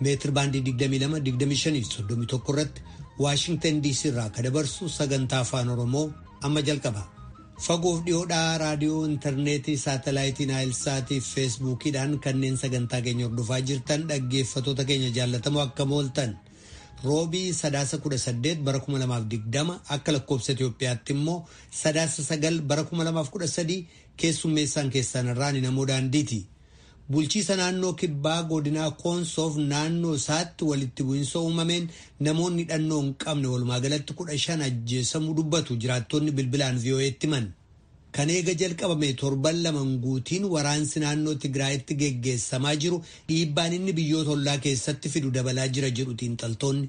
meetir baandii 22, 25 fi 31 irratti Waashingtan DC irraa akka dabarsu sagantaa afaan Oromoo amma jalqaba. Fagoof dhiyoodhaa raadiyoo intarneetii saatalaayitii naayilsaatii fi feesbuukiidhaan kanneen sagantaa keenya hordofaa jirtan dhaggeeffatoota keenya jaallatamoo akka mooltan roobii sadaasa 18 bara 2020 akka lakkoobsa Itoophiyaatti immoo sadaasa 9 bara 2013 keessummeessaan keessan irraan namoo daandiiti. Bulchiisa naannoo kibbaa godinaa Koonsoof naannoo isaatti walitti bu'insa uumameen namoonni hidhannoo hin qabne walumaa galatti 15 ajjeesamuu dubbatu jiraattonni bilbilaan VOA'tti himan. Kan eega jalqabame torban lama hin guutiin waraansi naannoo Tigraayitti geggeessamaa jiru dhiibbaan inni biyyoota ollaa keessatti fidu dabalaa jira jedhu xiinxaltoonni.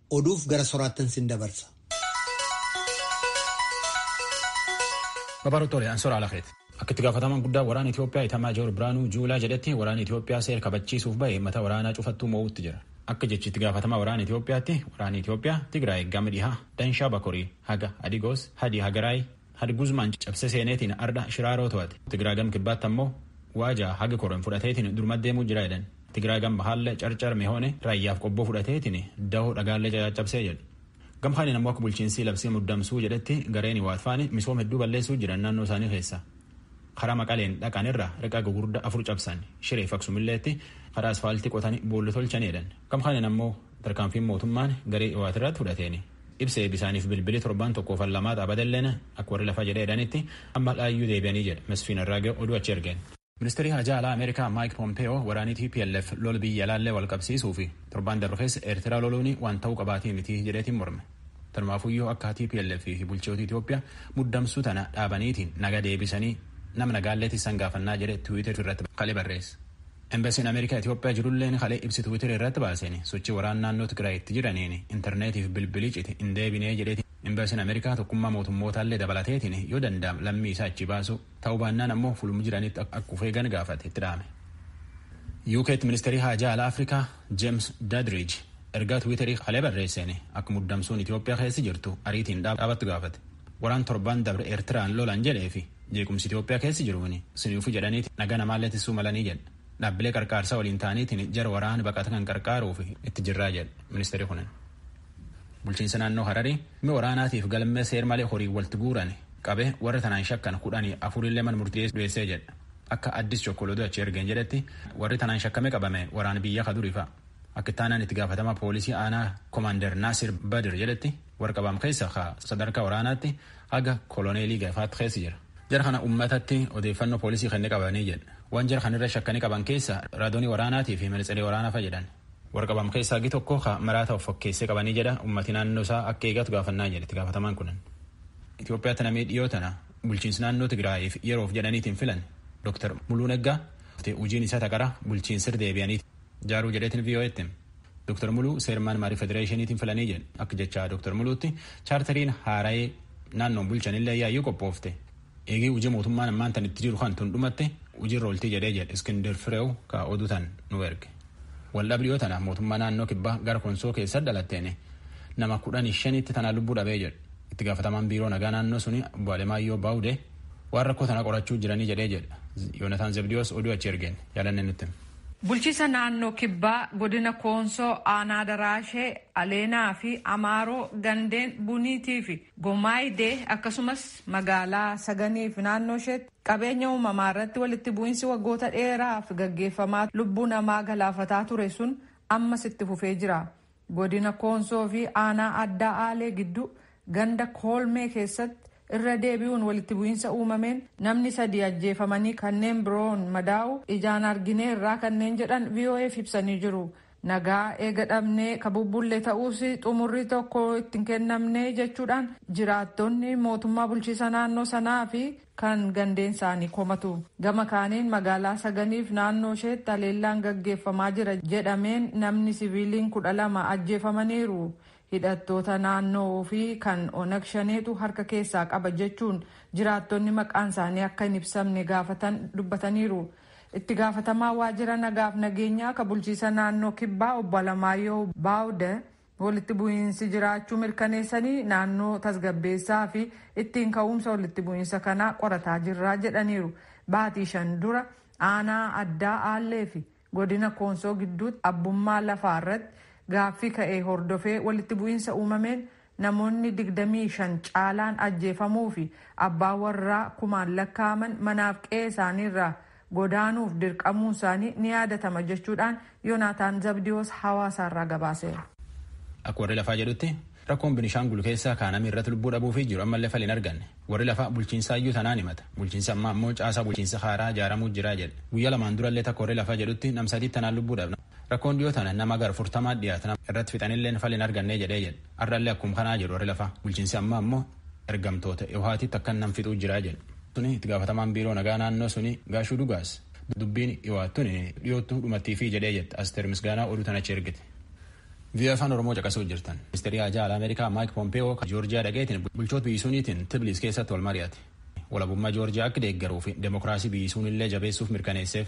Oduuf gara soraattan sin dabarsa. Babaaruu Tole, Ansoora Alakeet. Akka itti gaafatamaan guddaa waraana Itoophiyaa Itamaa Joor Biraanuu Juulaa jedhetti waraanni Itoophiyaa seera kabachiisuuf bahe mata waraanaa cufattuu moo'uutti jira. Akka jechi itti gaafatamaa waraana Itoophiyaatti waraanni Itoophiyaa Tigraay Gama Dhihaa, Danshaa Bakorii, Haga, Adigoos, Hadi Hagaraay, Had Guzmaan cabsee seeneetiin ardha Shiraaroo to'ate. Tigraa gam kibbaatti ammoo Waajaa haga Koren fudhateetiin durumatti deemuu jira jedhan. Tigraa gam bahaallee Carcar Mehoone, Raayyaaf Qobboo fudhateetiin Dawoo Dhagaallee cacaccabsee jedhu. Gam kaaniin ammoo akka bulchiinsii labsii muddamsuu jedhetti gareen Iwaat faani misoom hedduu balleessuu jiran naannoo isaanii keessa. Karaa Maqaleen dhaqan irra riqa gugurda afur cabsan. Shireef Aksumilleetti karaa asfaaltii qotani boolla tolchani jedhan. Gam kaaniin ammoo Tarkaanfiin mootummaan garee Iwaat irratti fudhateen ibsa eebisaaniif bilbili torbaan tokkoof allamaa xaabadelleen akka warri lafa jedhee jedhanitti amma dhaayyuu deebi'anii jedha Masfiin Arraagee oduu achi ergeen. Ministeerii Haajaa Alaa Ameerikaa Maayik Pompeeyoo waraanii TPLF lola biyya alaallee wal qabsiisuu fi torbaan darbe keessa Eertiraa loluun waan ta'uu qabaatee miti jedheetiin morme. Tanumaafuyyuu akka TPLF fi bulchitooti Itoophiyaa muddamsuu tana dhaabaniitiin naga deebisanii nama nagaallee tissan gaafannaa jedhe tiwiitar irratti kalee barreesse. Embasiin Ameerikaa Itoophiyaa jirulleen kalee ibsi Twitter irratti baaseen sochii waraana naannoo Tigraay itti jiraniin interneetii fi bilbilii cite hin deebinee jedheeti. Embasiin Ameerikaa tokkummaa mootummootaallee dabalateetiin yoo danda'am lammii isaa achii baasuu, ta'uu baannaan ammoo fulum jiranitti akka of eegan gaafate itti dhaame. UKtti ministeerii haajaa alaa Afrikaa James Dadridge ergaa Twitterii kalee barreesseen akka muddamsuun Itoophiyaa keessi jirtu ariitiin dhaabattu gaafate. Waraan torbaan dabre Eertiraan lolan jedhee fi Jeequmsi Itoophiyaa keessa jiru kuni suniifuu jedhaniiti nagaa namaallee tissuu malanii jedha. Dhaabbilee qarqaarsaa waliin ta'aniitiin jara waraana baqata kan qarqaaruuf itti jirraa jedha ministeerri kunin. Bulchiinsa naannoo Hararii mi waraanaatiif galmee seer malee horiin walti guuran qabe warra tanaan shakkan kudhanii afurillee man murtii du'eessee jedha. Akka Addis Chokkol oduu achi ergeen jedhetti warri tanaan shakkame qabame waraana biyya ka duriifa. Akka itti aanaan itti gaafatamaa poolisii aanaa Komaander Naasir Badir jedhetti Warra qabaam keessa ka sadarkaa waraanaatti haga koloneelii gafaatti keessa jira. Jara kana ummatatti odeeffannoo poolisii kenne qabanii jedhe. Waan jara kan irra shakkanii qaban keessa raadoonii waraanaatii fi manitseree waraanaa fa'a jedhan. Warra qabaam keessa hagi tokko ka maraata of fakkeessee qabanii jedha ummati naannoo isaa akka eegatu gaafannaa jedhe itti gaafatamaan kunin. Itoophiyaatti namii dhiyoo tana bulchiinsi naannoo Tigraayiif yeroof jedhaniitiin filan Dr. Muluu Neggaa hojiin isaa taqara bulchiinsir deebi'aniiti. jaaruu jedheetiin VOA'tti hime. Dr. Muluu seermaan marii federeeshiniitiin filanii jedhe. Akka jechaa Dr. Muluutti chaartariin haara'ee naannoon bulchanillee yaayyuu qophoofte. Eegii hojii mootummaan ammaan tan itti jiru kan tun dhumatte hojiirra ooltii jedhee jedhe Iskindir Fireew ka oduu tan nu erge. Waldhabbii dhiyoo tana mootummaa naannoo kibbaa gara konsoo keessa dhalatteen nama kudhanii shanitti tanaa lubbuu dhabee jedhe. Itti gaafatamaan biiroo nagaa naannoo suni obbo Alemaayyoo Baawudee waan rakkoo tana qorachuu jiranii jedhee jedhe. Yoonataan Zebdiyoos oduu achi ergeen jaalannee nutti. Bulchiisa naannoo Kibbaa godina Koonsoo aanaa Daraashee, Aleenaa fi Amaaroo gandeen Buniitii fi Gomaayidee akkasumas magaalaa Saganii fi naannoo isheetti qabeenya uumamaa irratti walitti bu'iinsi waggoota dheeraaf gaggeeffamaa lubbuu namaa galaafataa ture sun ammas itti fufee jira. Godina Koonsoo fi Aanaa Addaa Aalee gidduu ganda Koolmee keessatti irra deebi'uun walitti bu'iinsa uumameen namni sadii ajjeefamanii kanneen biroon madaa'u ijaan argineerraa kanneen jedhan VOA'f ibsanii jiru. Nagaa eega dhabnee ka bubbulle ta'uus xumurri tokko itti hin kennamne jechuudhaan jiraattonni mootummaa bulchiisa naannoo sanaa fi kan gandeen isaanii komatu. Gama kaaniin magaalaa Saganiif naannoo isheetti haleellaan gaggeeffamaa jira jedhameen namni siviiliin 12 ajjeefamaniiru. Hidhattoota naannoo fi kan Onag Shaneetu harka keessaa qaba jechuun jiraattonni maqaan isaanii akka hin ibsamne gaafatan dubbataniiru. Itti gaafatamaa waajjira nagaaf nageenyaa ka bulchiisa naannoo Kibbaa obbo Alamaayyoo Baawuda Walitti bu'iinsi jiraachuu mirkaneessanii naannoo tasgabbeessaa fi ittiin ka'uumsa walitti bu'iinsa kanaa qorataa jirra jedhaniiru. Baatii shan dura aanaa addaa Aallee fi godina Koonsoo gidduutti abbummaa lafaa irratti gaaffii ka'e hordofee walitti bu'iinsa uumameen namoonni 25 caalaan ajjeefamuu fi abbaa warraa kumaan lakkaa'aman manaaf qe'ee isaanii irraa godaanuuf dirqamuun isaanii ni yaadatama jechuudhaan Yonaataan Zabdiyoos Hawaasaarraa gabaaseera. Akka warri lafaa jedhutti rakkoon Binishaangul keessaa kaanamii irratti lubbuu dhabuufii jiru ammallee fala hin arganne. Warri lafaa bulchiinsaa iyyuu tanaan himata. Bulchiinsi ammaa ammoo caasaa bulchiinsa haaraa ijaaramuu jira jedha. Guyyaa lamaan durallee takka warri lafaa jedhutti nam sadii tanaan lubbuu dhabna. Rakkoon dhiyoo tana nama gara afurtamaa dhiyaata irratti fixanillee fala hin arganne jedhee jedha. Har'allee akkuma kanaa jedhu warri lafaa. Bulchiinsi ammaa ammoo ergamtoota Iwhaatitti akkan nam fixuu jira jedhe. Tuni itti gaafatamaan biiroo nagaa naannoo suni Gaashuu Dugaas dubbiin Iwhaat tuni dhiyoottu dhumattiifii jedhee jette Asteer Misgaanaa oduu tana achi ergite. VOA Afaan Oromoo caqasuu jirtan. Ministeerii Haajaa Alaa Ameerikaa Maayik Pompeewoo ka Joorjiyaa dhaqeetiin bulchoota biyyi suniitiin Tibliis keessatti wal mari'ate. Walabummaa Joorjiyaa akka deeggaruu fi demokraasii biyyi sunillee jabeessuuf mirkaneesseef.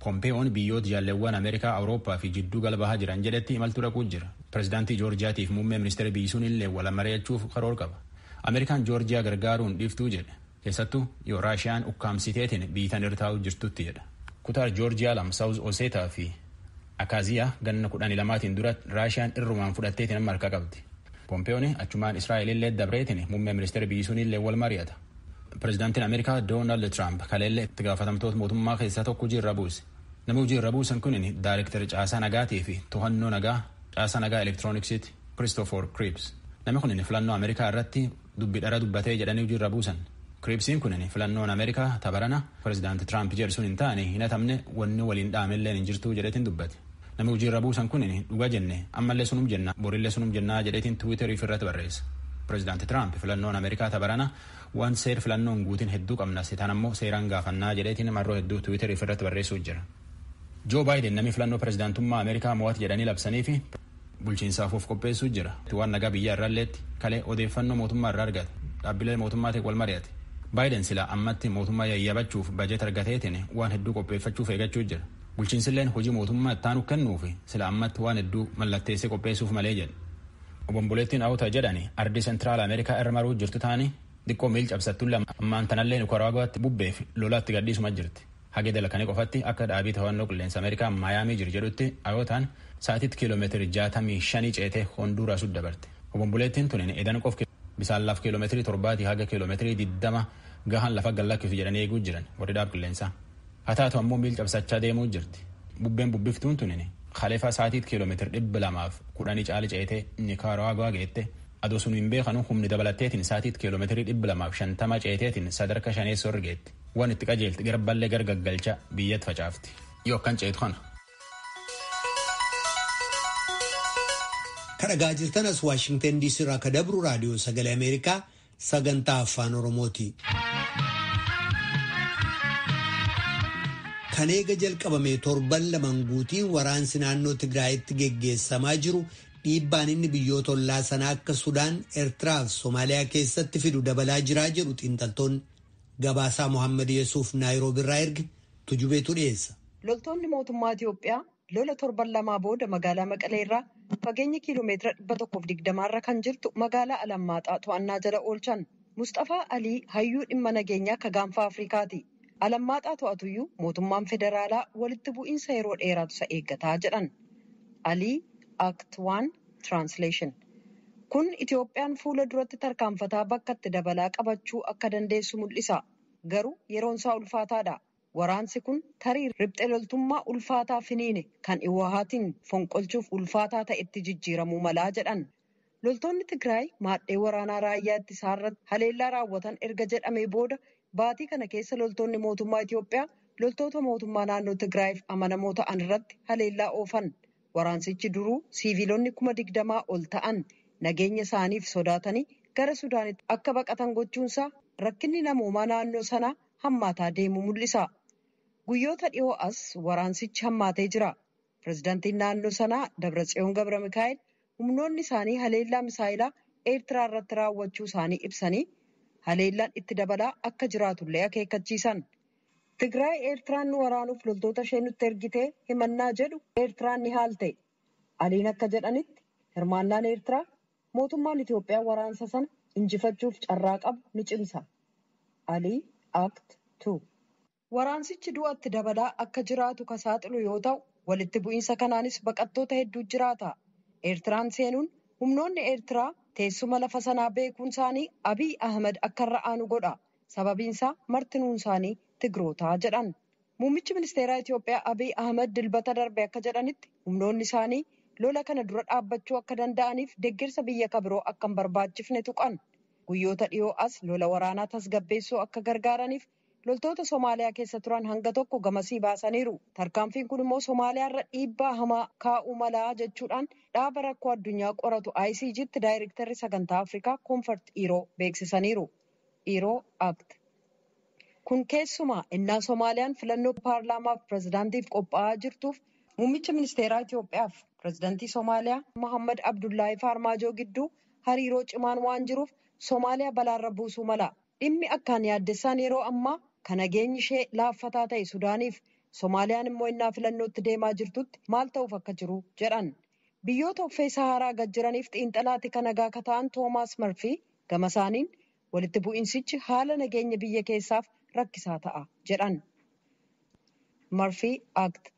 Pompeeyoon biyyoota jaalleewwan Ameerikaa, Awurooppaa fi jidduu gala bahaa jiran jedhetti imaltuu dhaquu jira. Pirezidaantii Joorjiyaatiif muummee ministeera biyyi sunillee wal mari'achuuf karoor qaba. Ameerikaan Joorjiyaa gargaaruu hin dhiiftuu jedhe. Keessattuu yoo Raashiyaan ukkaamsiteetiin biyyi tan irra taa'uu jirtutti jedha. Kutaa Joorjiyaa lama Saawuz Oseetaa fi Akaaziyaa ganna kudhanii lamaatiin dura Raashiyaan irrumaan fudhatteetiin amma harkaa qabdi. Pompeeyoon achumaan Israa'elillee dabreetiin muummee ministeera biyyi sunillee wal mari'ata. Pireezidaantiin Ameerikaa Doonaald Tiraamp kaleellee itti gaafatamtoota mootummaa keessaa tokko hojii irra buuse. Namni hojii irra buusan kun daayirektara caasaa nagaatii fi to'annoo nagaa caasaa nagaa elektirooniksiiti Kiristoofor Kiriips. Namni kun filannoo Ameerikaa irratti dubbi dhara dubbatee jedhanii hojii irra buusan. Kiriipsiin kun filannoon Ameerikaa tabarana pireezidaanti Tiraamp jedhu sun hin taane hin hatamne wanni waliin dhaamelleen hin jirtuu jedheetiin dubbate. Nami hujii irra buusan kun dhuga jenne ammallee sunum jenna borillee sunum jennaa jedheetiin tiwiiterii ofirratti barreessa. Pireezidaanti Tiraamp filannoon Ameerikaa tabarana waan seer filannoon guutin hedduu qabna sitaan ammoo seeraan gaafannaa jedheetiin marroo hedduu tiwiiterii ofirratti barreessuu jira. Joo Baayiden namni filannoo pireezidaantummaa Ameerikaa mo'at jedhanii labsanii fi bulchiinsaaf of qopheessuu jira. Waan nagaa biyyaa irraalleetti kalee odeeffannoo mootummaa irraa argate dhaabbilee mootummaatiin wal mari'ate. Baayiden silaa ammatti mootummaa yayyabachuuf bajet argateetiin waan hedduu qopheeffachuuf eegachuu jira. Bulchiinsilleen hojii mootummaa ittaanu kennuuf sila ammatti waan hedduu mallatteessee qopheessuuf malee jedhe. Obomboleettiin Awuta jedhani ardii Sentiraal Ameerikaa irra maruu jirtu taani diqqoo miil cabsattulle ammaan tanallee Nikaraaguwaatti bubbeef lola itti gadhiisuma jirti. Hage dalakane qofatti akka dhaabii tohannoo qilleensa Ameerikaa Maayaamii jiru jedhutti Ayotaan sa'atiitti kiilomeetirii jaatamii shanii ceetee Honduuraasutti dabarte. Obomboleettiin tunin edan qof bisaan laf kiilomeetirii torbaatii haga kiilomeetirii diddama gahan lafa gad lakkisu jedhanii eeguu jiran warri dhaab qilleensaa. Haa taatu ammoo miil cabsachaa deemuu jirti. Bubbeen bubbiftuun tunini kalefa saatiit kiilomeetir dhibba lamaaf kudhanii caali ceetee Nikaaraaguwaa geette. Adoo sunu hin beekanu humni dabalatteetiin saatiit kiilomeetirii dhibba lamaaf shantama ceeteetiin sadarka shaneessoo irra geette. Waan itti qajeelti garballee gar gaggalcha biyyatti facaafti. Yoo akkan ceetu kana. Kadhagaa jirtan as Waashingtan DC irraa akka dabru raadiyoo sagalee Ameerikaa sagantaa afaan oromooti. kan eega jalqabame torban lamaan guutiin waraansi naannoo tigraayitti geggeessamaa jiru dhiibbaan inni biyyoota ollaa sanaa akka sudaan eertiraa fi soomaaliyaa keessatti fidu dabalaa jiraa jedhu xiinxaltoonni gabaasaa mohaammed yesuuf naayiroobiirraa erge tujubeetu dhiyeessa. loltoonni mootummaa itiyoophiyaa Lola torban lamaa booda magaalaa Maqalee irraa fageenya kiiloomeetira 120 irra kan jirtu magaalaa Alammaaxaa to'annaa jala oolchan. Musxafaa Alii hayyuu dhimma nageenyaa ka gaanfa Afrikaati. Alammaaxaa to'atuyyuu mootummaan federaalaa walitti bu'iinsa yeroo dheeraatu isa eeggata jedhan. Alii Act 1 Translation Kun Itoophiyaan fuula duratti tarkaanfataa bakka itti dabalaa qabachuu akka dandeessu mul'isa. Garuu yeroonsaa ulfaataadha. Waraansi kun tarii ripxe loltummaa ulfaataa finiine kan Iwahaatiin fonqolchuuf ulfaataa ta'etti jijjiiramuu mala jedhan. Loltoonni Tigraay maadhee waraanaa raayyaa ittisaarratti haleellaa raawwatan erga jedhamee booda baatii kana keessa loltoonni mootummaa Itoophiyaa loltoota mootummaa naannoo Tigraayiif amanamoo ta'an irratti haleellaa oofan. Waraansichi duruu siiviilonni kuma digdamaa ol ta'an nageenya isaaniif sodaatanii gara Sudaanitti akka baqatan gochuunsaa rakkinni namoomaa naannoo sanaa hammaataa deemuu mul'isa. Guyyoota dhiyoo as waraansichi hammaatee jira. Pirezidantiin naannoo sanaa Dabratsiyoon Gabramikaa'el humnoonni isaanii haleellaa misaayilaa Eertiraa irratti raawwachuu isaanii ibsanii haleellaan itti dabalaa akka jiraatullee akeekkachiisan. Tigraay Eertiraan nu waraanuuf loltoota ishee nutti ergitee himannaa jedhu Eertiraan ni haalte. Aliin akka jedhanitti hirmaannaan Eertiraa Mootummaan Itoophiyaa waraansa sana injifachuuf carraa qabu ni cimsa. Ali Act 2. Waraansichi du'a itti dabalaa akka jiraatu ka saaxilu yoo ta'u, walitti bu'iinsa kanaanis baqattoota hedduu jiraata. Eertiraan seenuun humnoonni Eertiraa teessuma lafa sanaa beekuun isaanii Abiy Ahimad akka irra aanu godha. Sababiin isaa martinuun isaanii Tigrootaa jedhan. Muummichi ministeeraa Itiyoophiyaa Abiy Ahimad Dilbata darbe akka jedhanitti humnoonni isaanii lola kana dura dhaabbachuu akka danda'aniif deggersa biyya ka biroo akka hin barbaachifne tuqan. Guyyoota dhiyoo as lola waraanaa tasgabbeessuu akka gargaaraniif loltoota Somaaliyaa keessa turan hanga tokko gamasii baasaniiru. Tarkaanfiin kun immoo Somaaliyaa irra dhiibbaa hamaa kaa'uu malaa jechuudhaan dhaaba rakkoo addunyaa qoratu ICGtti daayirektarri sagantaa Afrikaa Koonfart Iiroo beeksisaniiru. Dhiiroo, Act. Kun keessumaa ennaa Somaaliyaan filannoo paarlaamaaf pirezidaantiif qophaa'aa jirtuuf muummicha ministeeraa Itoophiyaaf pirezidantii Somaaliyaa Mohammad Abdullaahi Faarmaajoo gidduu hariiroo cimaan waan jiruuf Somaaliyaa balaarra buusuu mala. Dhimmi akkaan yaaddessaan yeroo ammaa ka nageenyi ishee laaffataa ta'e Sudaaniif Somaaliyaan immoo ennaa filannootti deemaa jirtutti maal ta'uuf akka jiru jedhan. Biyyoota uffee Sahaaraa gad jiraniif xiinxalaa tika nagaa ka ta'an Toomaas Marfii gama isaaniin, walitti bu'iinsichi haala nageenya biyya keessaaf rakkisaa ta'a jedhan. Marfii Akt.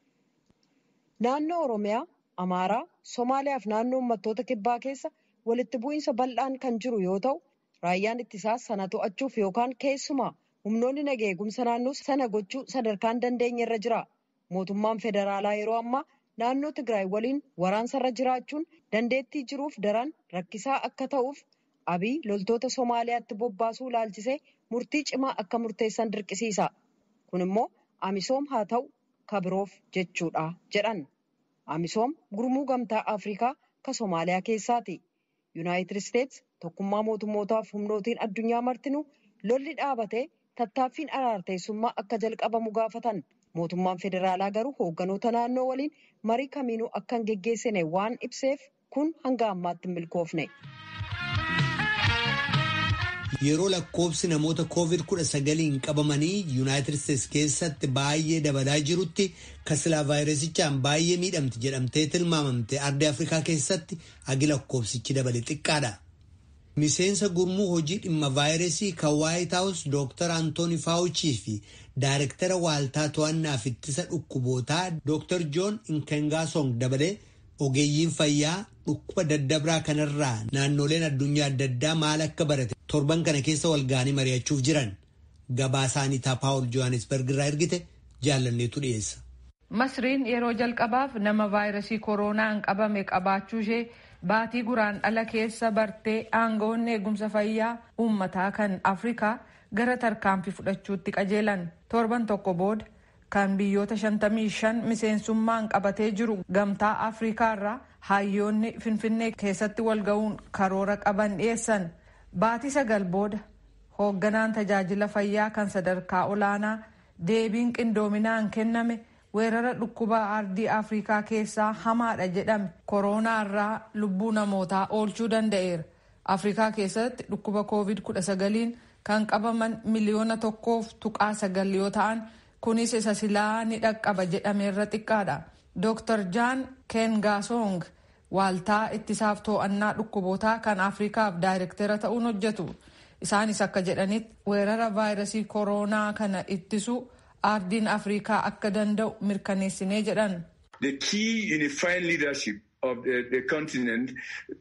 Naannoo Oromiyaa, Amaaraa, Somaaliyaa fi Naannoo Ummattoota Kibbaa keessa walitti bu'iinsa bal'aan kan jiru yoo ta'u, raayyaan ittisaas sana to'achuuf yookaan keessumaa humnoonni naga eegumsa naannoo sana gochuu sadarkaan dandeenyerra jira. Mootummaan federaalaa yeroo ammaa naannoo Tigraay waliin waraansarra jiraachuun dandeettii jiruuf daran rakkisaa akka ta'uuf Abiy loltoota Somaaliyaatti bobbaasuu ilaalchisee murtii cimaa akka murteessan dirqisiisa. Kun immoo Amisoom haa ta'u ka biroof jechuudha jedhan. Amisoom gurmuu Gamtaa Afrikaa ka Somaaliyaa keessaati. Yunaayitid Isteets tokkummaa mootummootaaf humnootiin addunyaa martinuu lolli dhaabatee tattaaffiin araarteessummaa akka jalqabamu gaafatan. Mootummaan federaalaa garuu hoogganoota naannoo waliin marii kamiinuu akka hin geggeessine waan ibseef kun hanga ammaatti hin milkoofne. Yeroo lakkoobsi namoota koovid kudha sagaliin qabamanii yuunaayitid isteets keessatti baay'ee dabalaa jirutti kasilaa vaayirasichaan baay'ee miidhamti jedhamtee tilmaamamte ardii afrikaa keessatti hagi lakkoofsichi dabale xiqqaadha. Miseensa gurmuu hojii dhimma vaayirasii kan Waayit Haawus Dooktar Antooni Faawuchii fi Daarektara Waaltaa To'annaaf Ittisa Dhukkubootaa Dooktar Joon Inkengaasong dabalee ogeeyyiin fayyaa dhukkuba daddabraa kanarraa naannooleen addunyaa adda addaa maal akka barate torban kana keessa walga'anii mari'achuuf jiran. Gabaasaa Aniitaa Paawul Johaanisberg irraa ergite jaallanneetu dhiyeessa. Masriin yeroo jalqabaaf nama vaayrasii koroonaan qabame qabaachuu ishee baatii Guraandhala keessa bartee aangawoonni eegumsa fayyaa uummataa kan Afrikaa gara tarkaanfi fudhachuutti qajeelan. Torban tokko booda kan biyyoota 55 miseensummaan qabatee jiru gamtaa Afrikaa irraa hayyoonni Finfinnee keessatti wal ga'uun karoora qaban dhiyeessan. Baatii sagal booda hoogganaan tajaajila fayyaa kan sadarkaa olaanaa Deebiin qindoominaan kenname weerara dhukkuba ardii Afriikaa keessaa hamaadha jedhame koroonaa irraa lubbuu namootaa oolchuu danda'eera. Afriikaa keessatti dhukkuba Kooviid 19n kan qabaman miliyoona tokkoof tuqaa sagal yoo ta'an kunis isa silaa ni dhaqqaba jedhameerra xiqqaadha. Dooktar Jaan Keengaasong Waaltaa ittisaaf too'annaa dhukkubootaa kan Afrikaaf daayrektera ta'uun hojjetu. Isaanis akka jedhanitti weerara vaayirasii koroonaa kana ittisuu aardiin Afrikaa akka danda'u mirkaneessinee jedhan. The key unifying leadership of the the continent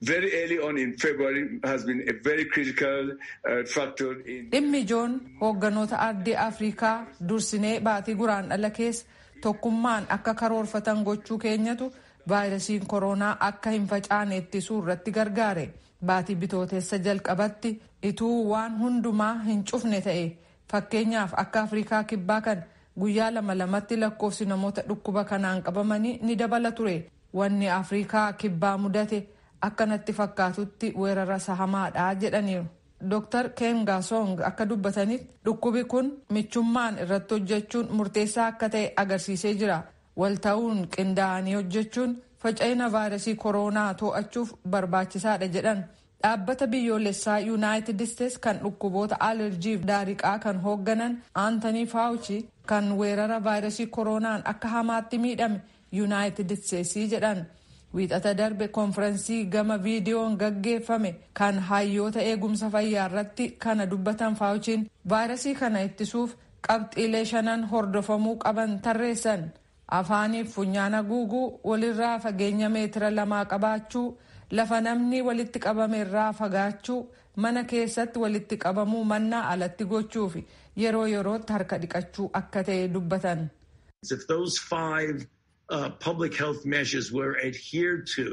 very early on in February has been a very critical uh, factor in Dhimmi ijoon hoogganoota ardii Afrikaa dursinee baatii Guraandhala keessa tokkummaan akka karoorfatan gochuu keenyatu Vaayirasiin koroonaa akka hin facaane ittisuu irratti gargaare. Baatii Bitootessa jalqabatti ituu waan hundumaa hin cufne ta'e, fakkeenyaaf akka Afriikaa Kibbaa kan guyyaa lama lamatti lakkoofsi namoota dhukkuba kanaan qabamanii ni dabala ture. Wanni Afriikaa Kibbaa mudate akka natti fakkaatutti weerara isa hamaadha jedhaniiru. Doktar Keengaasong akka dubbatanitti dhukkubi kun michummaan irratti hojjechuun murteessaa akka ta'e agarsiisee jira. Wal ta'uun qindaa'anii hojjechuun faca'ina vaayirasii koroonaa to'achuuf barbaachisaadha jedhan. Dhaabbata biyyoolessaa Yuunaayitid Isteets kan dhukkuboota alerjiif daariqaa kan hoogganan Aantanii Faawuchi kan weerara vaayirasii koroonaan akka hamaatti miidhame Yuunaayitid Isteetsii jedhan. Wiixata darbe konfiransii gama viidiyoon gaggeeffame kan hayyoota eegumsa fayyaarratti kana dubbatan Faawuchiin vaayirasii kana ittisuuf Qabxiilee shanan hordofamuu qaban tarreessan. Afaaniif funyaan haguuguu, walirraa fageenya meetira lamaa qabaachuu, lafa namni walitti qabame irraa fagaachuu, mana keessatti walitti qabamuu mannaa alatti gochuufi yeroo yerootti harka dhiqachuu akka ta'e dubbatan. If those five uh, public health measures were adhered to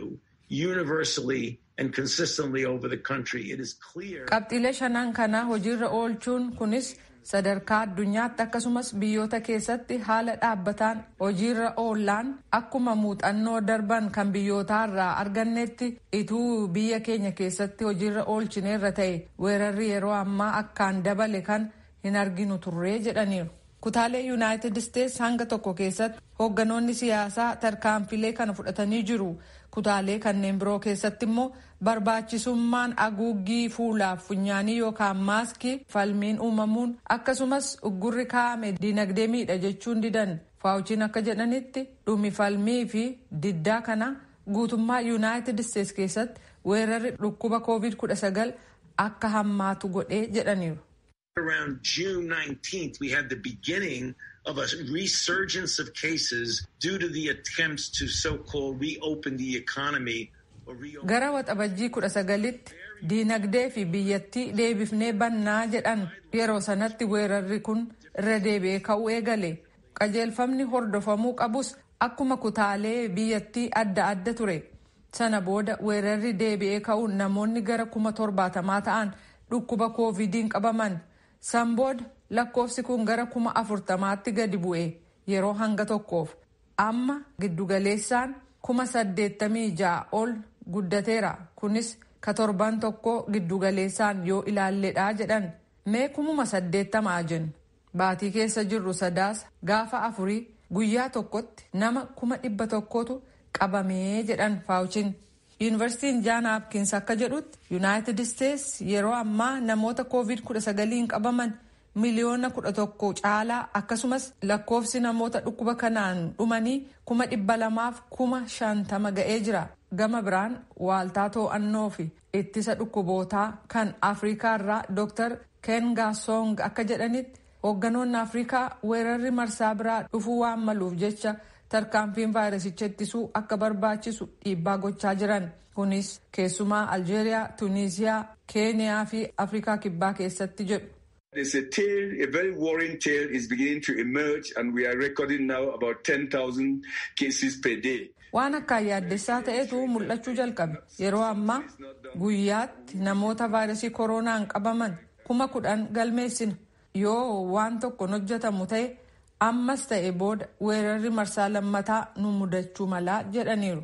universally and consistently over the country. It is clear. Qabxiilee shanan kana hojiirra oolchuun kunis sadarkaa addunyaatti akkasumas biyyoota keessatti haala dhaabbataan hojiirra oollaan akkuma muuxannoo darban kan biyyootaarraa argannetti ituu biyya keenya keessatti hojiirra oolchineerra ta'e weerarri yeroo ammaa akkaan dabale kan hin arginu turree jedhaniiru. Kutaalee Yunaayitid Isteets hanga tokko keessatti hoogganoonni siyaasaa tarkaanfilee kana fudhatanii jiru. Kutaalee kanneen biroo keessatti immoo barbaachisummaan aguuggii fuulaaf funyaanii yookaan maaskii falmiin uumamuun akkasumas uggurri kaa'ame diinagdee miidha jechuun didan. Faawuchiin akka jedhanitti dhumi falmii fi diddaa kana guutummaa Yunaayitid Isteets keessatti weerarri dhukkuba covid 19 akka hammaatu godhee jedhaniiru. Around June 19th, we had the beginning of a resurgence of cases due to the attempts to so-called reopen the economy. Gara waxabajjii kudha sagalitti diinagdee fi biyyattii deebifnee bannaa jedhan yeroo sanatti weerarri kun irra deebi'ee ka'uu eegale. Qajeelfamni hordofamuu qabus akkuma kutaalee biyyattii adda adda ture. Sana booda weerarri deebi'ee ka'uun namoonni gara kuma torbaatamaa ta'an dhukkuba Kooviidiin qabaman. San booda lakkoofsi kun gara kuma afurtamaatti gadi bu'e yeroo hanga tokkoof. Amma giddu galeessaan kuma saddeettamii ja'a ol guddateera kunis ka torban tokkoo giddu galeessaan yoo ilaalledha jedhan. Mee kumuma saddeettama haa jennu. Baatii keessa jirru Sadaasa gaafa afurii guyyaa tokkotti nama kuma dhibba tokkotu qabame jedhan Faawuchin. Yuunivarsiitiin Jaan Haapkins akka jedhutti Yunaayitid Isteets yeroo ammaa namoota Kooviid 19n qabaman miliyoona 11 caalaa akkasumas lakkoofsi namoota dhukkuba kanaan dhumanii kuma dhibba lamaaf kuma shantama ga'ee jira. Gama biraan waaltaa too'annoo fi Ittisa dhukkubootaa kan Afrikaa irraa Dr. Kenga Song akka jedhanitti hoogganoonni Afrikaa weerarri marsaa biraa dhufuu waan maluuf jecha tarkaanfiin vaayirasicha ittisuu akka barbaachisu dhiibbaa gochaa jiran. Kunis keessumaa Aljeeriyaa, Tuniiziyaa, Keeniyaa fi Afrikaa Kibbaa keessatti jedhu. It's a tale, a very worrying tale is beginning to emerge and we are recording now about 10,000 cases per day. Waan akkaan yaaddessaa ta'etu mul'achuu jalqabe. Yeroo ammaa guyyaatti namoota vaayirasii koroonaan qabaman kuma kudhan galmeessina. Yoo waan tokko hin hojjetamu ta'e ammas ta'e booda weerarri marsaa lammataa nu mudachuu mala jedhaniiru.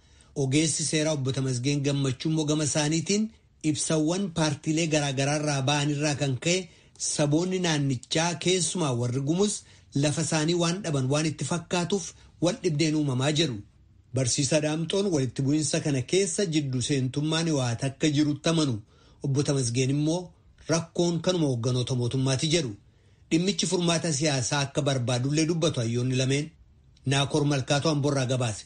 Ogeessi seeraa obbo Tamasgeen Gammachuu immoo gama isaaniitiin ibsawwan paartiilee garaagaraarraa ba'anirraa kan ka'e saboonni naannichaa keessumaa warri gumuz lafa isaanii waan dhaban waan itti fakkaatuuf wal dhibdeen uumamaa jedhu. Barsiisaa Daamxoon walitti bu'insa kana keessa jiddu seentummaan Hiwaat akka jirutti amanu. Obbo Tamasgeen immoo rakkoon kanuma hoogganoota mootummaati jedhu. Dhimmichi furmaata siyaasaa akka barbaadullee dubbatu hayyoonni lameen. Naakoor Malkaatoo Amborraa gabaase.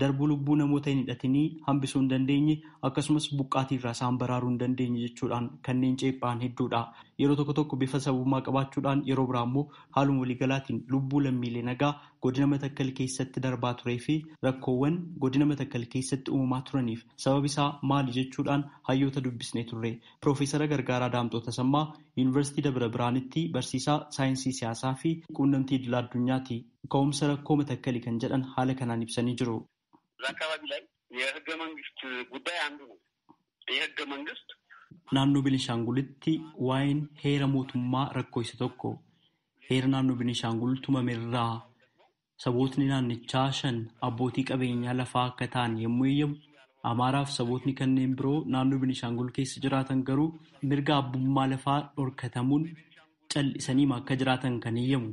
darbuu lubbuu namoota hin hidhatinii hambisuu hin dandeenye akkasumas buqqaatii irraa isaan baraaruu hin dandeenye jechuudhaan kanneen ceephaa'an hedduudha. Yeroo tokko tokko bifa sababummaa qabaachuudhaan yeroo biraa immoo haaluma waliigalaatiin lubbuu lammiilee nagaa godina Matakkal keessatti darbaa turee fi rakkoowwan godina Matakkal keessatti uumamaa turaniif sababi isaa maali jechuudhaan hayyoota dubbisnee turre. Piroofeesara Gargaaraa Daamxoo Tasammaa Yuunivarsiitii Dabra Birhaanitti barsiisaa saayinsii siyaasaa fi quunnamtii idila addunyaati. ka'umsa rakkoo Matakkali kan jedhan haala kanaan ibsanii jiru. Naannoo Benishaangulitti waa'een heera mootummaa rakkoo isa tokko. Heera naannoo Benishaangul tumame irraa sabootni naannichaa shan abbootii qabeenyaa lafaa akka ta'an yommuu eeyyamu, Amaaraa fi sabootni kanneen biroo naannoo Benishaangul keessa jiraatan garuu mirga abbummaa lafaa dhorkatamuun cal'isaniima akka jiraatan kan eeyyamu.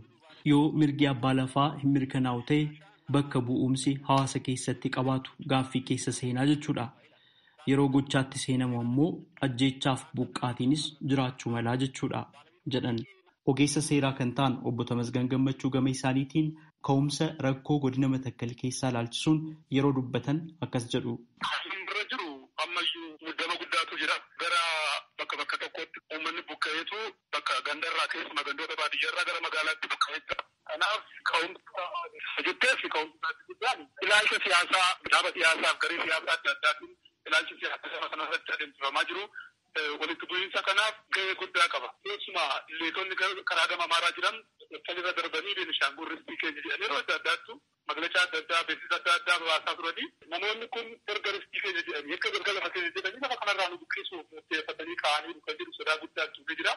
Yoo mirgi abbaa lafaa hin mirkanaa'u ta'e bakka bu'uumsi hawaasa keessatti qabaatu gaaffii keessa seenaa jechuudha. Yeroo gochaatti seenamu ammoo ajjeechaaf buqqaatiinis jiraachuu malaa jechuudha, jedhan. Ogeessa seeraa kan ta'an Obbo Tamasgan Gammachuu gama isaaniitiin Ka'umsa rakkoo godina Matakkal keessaa ilaalchisuun yeroo dubbatan akkas jedhu. Haalli amma irra jiru ammayyuu muddama guddaatu jira. Gara bakka bakka tokkootti uummanni buqqa'eetu bakka gandarraa keessumaa gandoota baadiyyaarraa gara magaalaatti buqqa'ee jira. Kanaaf ka'umsa isa jetteef ka'umsi isaa inni guddaan ilaalcha siyaasaa dhaaba siyaasaaf garee siyaasaa adda addaatiin ilaalchi siyaasaa saba kanarratti adeemsifamaa jiru walitti bu'iinsa kanaaf gahee guddaa qaba. Keessumaa leetonni karaa gama Amaaraa jiran Maccakal irra darbanii Beenishaangul ristii keenya jedhanii yeroo adda addaattu maglacaa adda addaa, beeksisa adda addaa babaasaa turanii namoonni kun erga ristii keenya jedhanii, erga mirga lafa keenya jedhanii lafa kanarraa nu buqqisuuf murteeffatanii ka'aniiru kan jedhu sodaa guddaan tumee jira.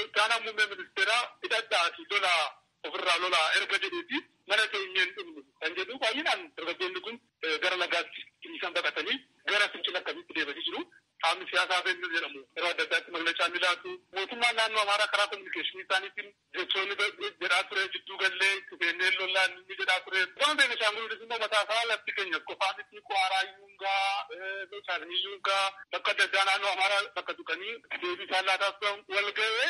Itti aanaan muummee ministeeraa hidhadhaatii lolaa Ofirraa lolaa erga jedheeti mana teenyee hin dhumnu kan jedhu baay'inaan dargaggoonni kun gara lagaatti dhiisan baqatanii gara fincila akkasiitti deemanii jiru. Qaamni siyaasaa ABN jedhamu yeroo adda addaatti maglacaa ni laatu. Mootummaan naannoo Amaaraa karaa kominikeeshinii isaaniitiin jechoonni jedhaa ture jidduu gallee itti seennee lollaa ni jedhaa ture. Gama Beenishaangul Gumuz immoo mataa isaa lafti keenya qofaa miti Quwaaraa iyyuu hin ga'a, Meechaakni iyyuu hin ga'a. Bakka adda addaa naannoo Amaaraa bakka tuqanii deebii isaan laataa turan wal ga'ee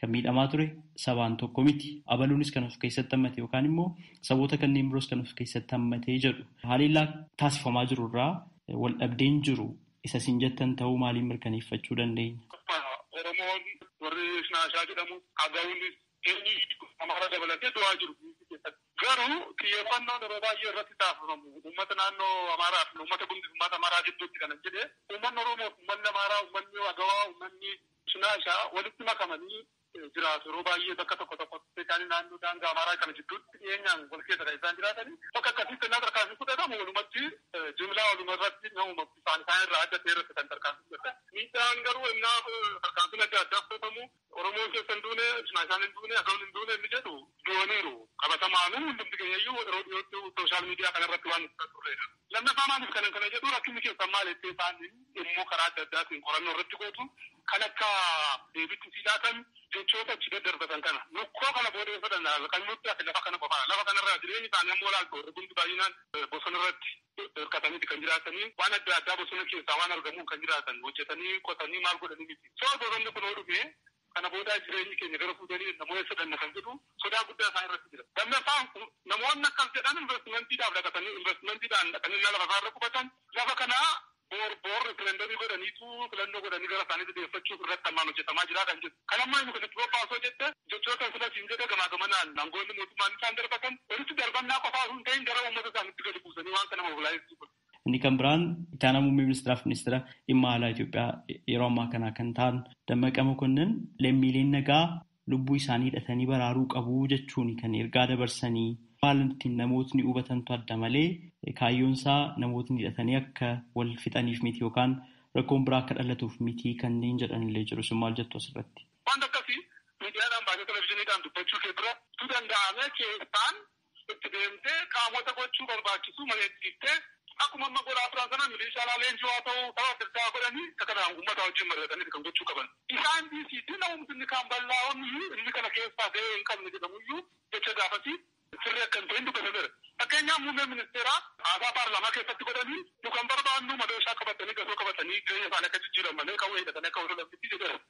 Kan miidhamaa ture sabaan tokko miti. Abaluunis kan of keessatti hammate yookaan immoo saboota kanneen biroos kan of keessatti hammate jedhu. Haleellaa taasifamaa jiru irraa waldhabdeen jiru isa isin jettan ta'uu maaliin mirkaneeffachuu dandeenya? Oromoon warri Shinaashaa jedhamu Agawuunis eenyu Amaara dabalatee du'aa jiru. Garuu xiyyeeffannoon yeroo baay'ee irratti taasifamu uummata naannoo Amaaraa fi uummata Gumuz uummata Amaaraa gidduutti kanan jedhe uummanni Oromoo fi uummanni Amaaraa uummanni Agawaa uummanni Cinaashaa walitti makamanii jiraatu. Yeroo baay'ee bakka tokko tokkotti ispeeshaalii naannoo daangaa Amaaraa kana gidduutti dhiyeenyaan wal keessa kan isaan jiraatanii. Bakka akkasiitti ennaa tarkaanfiin fudhatamu walumatti jimlaa walumarratti nama maqsu isaan isaan irraa adda ta'e irratti kan tarkaanfii fudhatan. Miidhaan garuu ennaa tarkaanfiin adda addaa fudhatamu Oromoon keessa hin duune, Cinaashaan hin duune, Agawoon hin duune inni jedhu du'aniiru. Qabatamaanuu hundumti keenyayyuu yeroo dhiyootti sooshaal miidiyaa kanarratti waan nuti turreedha. Lammaffaa maaliif kanan kana jedhu rakkinni keessan maal jettee isaan immoo karaa adda addaatiin qorannoo irratti gootu kan akka deebitti sii laatan jechoota achi daddarbatan kana lukkoo kana booda hin fudhanna kan nutti hafe lafa kana qofaadha lafa kanarraa jireenyi isaanii ammoo laaltu warri hundi baay'inaan bosona irratti hirkataniiti kan jiraatanii waan adda addaa bosona keessaa waan argamuun kan jiraatan hojjetanii qotanii maal godhanii miti soo bosonni kun yoo dhufe Kana boodaa jireenyi keenya gara fuudhanii dhanna moo eessa dhanna kan jedhu sodaa guddaa isaan irratti jira. Lammaffaan namoonni akkas jedhan investmentiidhaaf dhaqatanii investmentiidhaan dhaqanii lafa isaa irra qubatan lafa kana boor boor riferendomii godhaniitu filannoo godhanii gara isaaniitti deeffachuuf irratti ammaan hojjetamaa jira kan jedhu. Kan ammaa inni kun itti bobbaa osoo jette jechoota sila siin jedhe gamaa gamanaan aangoonni mootummaan isaan darbatan walitti darbannaa qofaa osoo hin ta'in gara uummata isaaniitti gadi buusanii waan kana mobilaayiz godhu. Inni kan biraan itti aanaa muummee ministeeraaf ministeera dhimma alaa Itoophiyaa yeroo ammaa kanaa kan ta'an Dammaqa Mokonnin lammiileen nagaa lubbuu isaanii hidhatanii baraaruu qabu jechuun kan ergaa dabarsanii haala ittiin namootni hubatantu adda malee kaayyoon isaa namootni hidhatanii akka wal fixaniif miti yookaan rakkoon biraa akka dhalatuuf miti kanneen jedhanillee jiru. Isin maal jettu asirratti? Wanta akkasii miidiyaadhaan baasee televizyiiniidhaan dubbachuu kee dura tu danda'ame keessaan itti deemtee qaamota gochuu barbaachisu mari'achiiftee akkuma amma godhaa turan sana miliishaalaa leenjii haa ta'uu tapha adda addaa godhanii akka kana uummataa wajjin mari'atanii kan gochuu qaban. Isaan dhiisii diina uumtu inni kaan bal'aa'oon iyyuu inni kana keessaa gahee hin qabne jedhamu iyyuu jecha gaafasii sirrii akka hin ta'in dubbatameera. Fakkeenyaaf muummeen ministeeraa haasaa paarlaamaa keessatti godhanii nu kan barbaannu madooshaa qabatanii gasoo qabatanii jireenya isaanii akka jijjiiran malee qawwee hidhatanii akka wal lolan miti jedheera.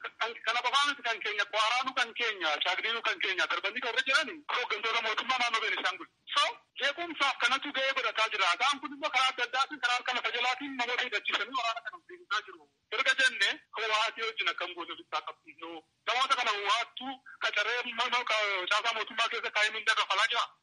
Kana qofaa miti kan keenya Quwaaraanu kan keenya Caagniinu kan keenya darbanii warri jiran hooggantoota mootummaa naannoo Beenishaangul. So jeequmsaaf kanatu gahee godhataa jira. Isaan kun immoo karaa adda addaatiin karaa harka lafa jalaatiin namoota hidhachiisanii waraana kana deemsisaa jiru. Erga jenne Howaatii wajjin akkam goone ofitti haa qabsiifnu. Namoota kana Howaattu qacaree caasaa mootummaa keessa kaa'ee mindaa kaffalaa jiraa?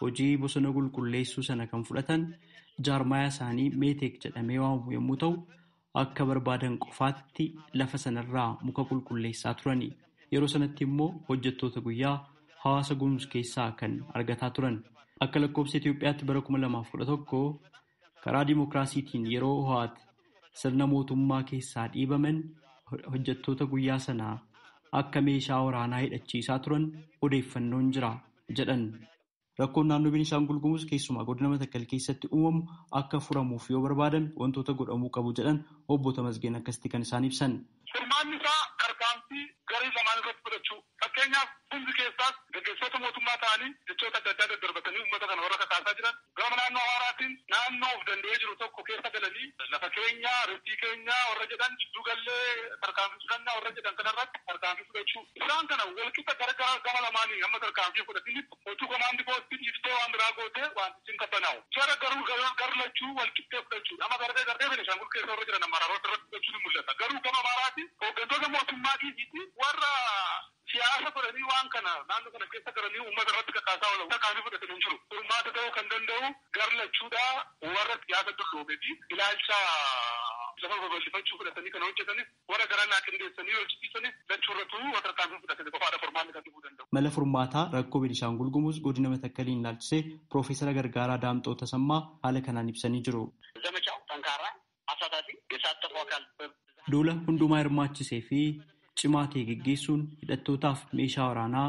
Hojii bosona qulqulleessuu sana kan fudhatan jaarmayaa isaanii Meeteek jedhamee waamamu yommuu ta'u, akka barbaadan qofaatti lafa sanarraa muka qulqulleessaa turani. Yeroo sanatti immoo hojjettoota guyyaa hawaasa Gumuz keessaa kan argataa turan. Akka lakkoofsa Itoophiyaatti bara 2011 Karaa dimokiraasiitiin yeroo Ohaat sirna mootummaa keessaa dhiibaman hojjettoota guyyaa sana akka meeshaa waraanaa hidhachiisaa turan odeeffannoon jira jedhan. Rakkoon naannoo Beenishaangul Gumuz keessumaa godina Matakkal keessatti uumamu akka furamuuf yoo barbaadame wantoota godhamuu qabu jedhan obbo Tamasgeen akkasitti kan isaan ibsan. Furmaanni isaa tarkaanfii garee lamaan irratti fudhachuu. Fakkeenyaaf Gumzi keessaas gaggeessitoota mootummaa ta'anii jechoota adda addaa daddarbatanii uummata kana warra kakaasaa jiran gama naannoo Amaaraatiin naannoo of danda'ee jiru tokko keessa galanii lafa keenya, ristii keenya warra jedhan, jidduu gallee tarkaanfii fudhanna warra jedhan kanarratti tarkaanfii fudhachuu. Isaan kana walqixa gara gara gama lamaanii hamma tarkaanfii hin fudhatinitti Oduu komaandi poostii dhiiftee waan biraa goote waantichi hin qabbanaa'u. Jara garuu gar lachuu wal qixxee fudhachuudha. Amma darbee darbee Benishangul keessa warra jiran amaraaroota irratti fudhachuun ni mul'ata. Garuu gama Amaaraati hooggantoota mootummaa dhiisiiti warra siyaasa godhanii waan kana naannoo kana keessa galanii uummata irratti kakaasaa oolan tarkaanfii fudhatan hin jiru. Furmaata ta'uu kan danda'u gar lachuudha. Warra siyaasa dulloomee fi ilaalcha lafa babal'ifachuu fudhatanii kana hojjetanis Warra garaa naa qindeessanii hojjisiisanis lachuu irratuu yoo tarkaanfii fudhatame qofaadha furmaanni kan dhufuu danda'u. Mala furmaataa rakkoo Benishaangul Gumuz godina Matakkaliin ilaalchisee Piroofeesara Gargaaraa Daamxoo Tasammaa haala kanaan ibsanii jiru. Zamachaaw xankaaraa, asaataafii, yesaattafuu akaal bem. Duula hundumaa hirmaachisee fi cimaa ta'e geggeessuun hidhattootaaf meeshaa waraanaa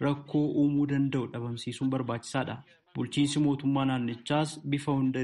rakkoo uumuu danda'u dhabamsiisuun barbaachisaadha. Bulchiinsi mootummaa naannichaas bifa hunda.